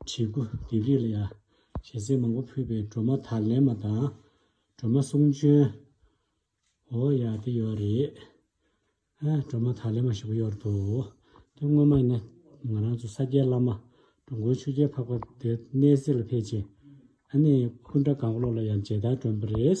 བྱེད་སྒོ་དེ་རིགས་ལ་ཡང་ཞལ་གསེང་མང་པོ་ཕུལ་པའི་སྒྲོལ་མ་དར་ལེན་མ་དང་སྒྲོལ་མ་གསུང་འབྱོན། འོ་ཡ་དེ་ཡོད་རེད། ཨ་སྒྲོལ་མ་དར་ལེན་མ་ཞེས་པོ་ཡོད་རེད་འདུག་དོན་དངོས་མ་ཡིན་ན་ང་རང་ཚོ་ས་སྐྱའི་བླ་མ་འགྲོ་མགོན་ཆོས་རྒྱལ་འཕགས་པ་དེ་གནས་གསེར་ལ་ཕེབས་རྗེས་ཨ་ནི་སྐུ་འདྲ་གང་བློ་ལ་ཡང་མཇལ་དར་བསྒྲོན་པ་རེད།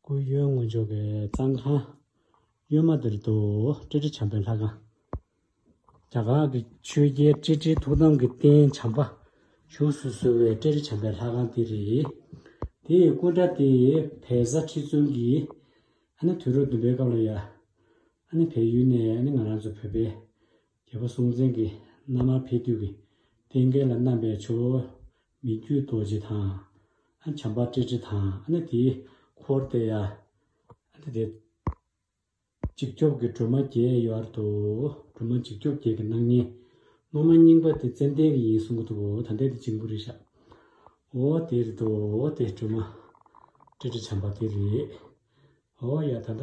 སྐུ་གཡོན་དངོས་འབྱོར་པའི་གཙང་ཁང། གཡོན་མ་དེར་དུ་ཀྲི་ཀྲི་བྱམས་པའི་ལྷ་ཁང། རྒྱ་གར་གྱི་ཆོས་རྒྱལ་ཀྲི་ཀྲིའི་ཐུགས་དམ་གྱི་རྟེན་བྱམས་པ་བཞུགས་སུ་གསོལ་བའི་ཀྲི་ཀྲི་བྱམས་པའི་ལྷ་ཁང་དེ་རེད། དེ་ཡི་སྐུ་འདྲ་དེ་བལ་བཟའ་ཁྲི་བཙུན་གྱིས། དུས་རབས་བདུན་པའི་སྐབས་ལ་ཡར། བལ་ཡུལ་ནས་ང་རང་ཚོ་བོད་པའི། རྒྱལ་པོ་སྲོང་བཙན་གྱིས་མནའ་མར་ཕེབས་དུས་ཀྱི་རྟེན་སྐལ་ལ་བསྣམས་པའི་ཆུ་བོ་མི་བརྒྱུད་རྡོ་རྗེ་དང། བྱམས་པ་ཀྲི་ཀྲི་དང་ནི་དེའི་འཁོར་སྟེ། ནི་དེ། འཇིགས་སྐྱོབ་ཀྱི་སྒྲོལ་མ་བརྒྱད་ཡོད་དོ། སྒྲོལ་མ་འཇིགས་སྐྱོབ་བརྒྱད་ཀྱི་སྣང་བརྙན། སློབ་མ་རྙིང་པ་དེ་ཙན་དན་གྱི་ཡིན་གསུང་གི་འདུག་གོ་ད་ལྟའི་དེ་འཇིགས་འབུ་རེད་ཤག་འོ་དེ་རེད་དོ་འོ་དེ་སྒྲོལ་མ། ཀྲི་ཀྲི་བྱམས་པ་དེ་རེད་འོ་ཡ་ད་ད།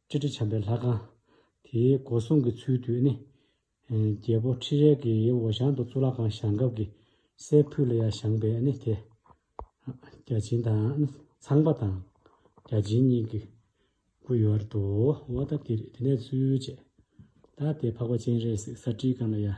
སྤྱི་ཁྲི་བྱམས་པའི་ལྷ་ཁང། དེའི་སྒོ་སྲུང་གི་ཚུལ་དུ་ནི། རྒྱལ་པོ་ཁྲི་རལ་གྱི་འོ་ཞང་དུ་གཙུག་ལག་ཁང་བཞེངས་སྐབས་ཀྱི་སའི་ཕུད་ལ་ཡར་བཞེངས་པས་ནི་དེ། བརྒྱ་བྱིན་དང་ཚངས་པ་དང་བརྒྱ་བྱིན་གཉིས་ཀྱི་སྐུ་ཡོད་བར་དུའོ། ད་དེ་ནས་ཚུལ་བཅད། ད་དེ་འཕགས་པ་སྤྱན་རས་གཟིགས་ས་ཁྲིའི་སྒང་ལ་ཡར།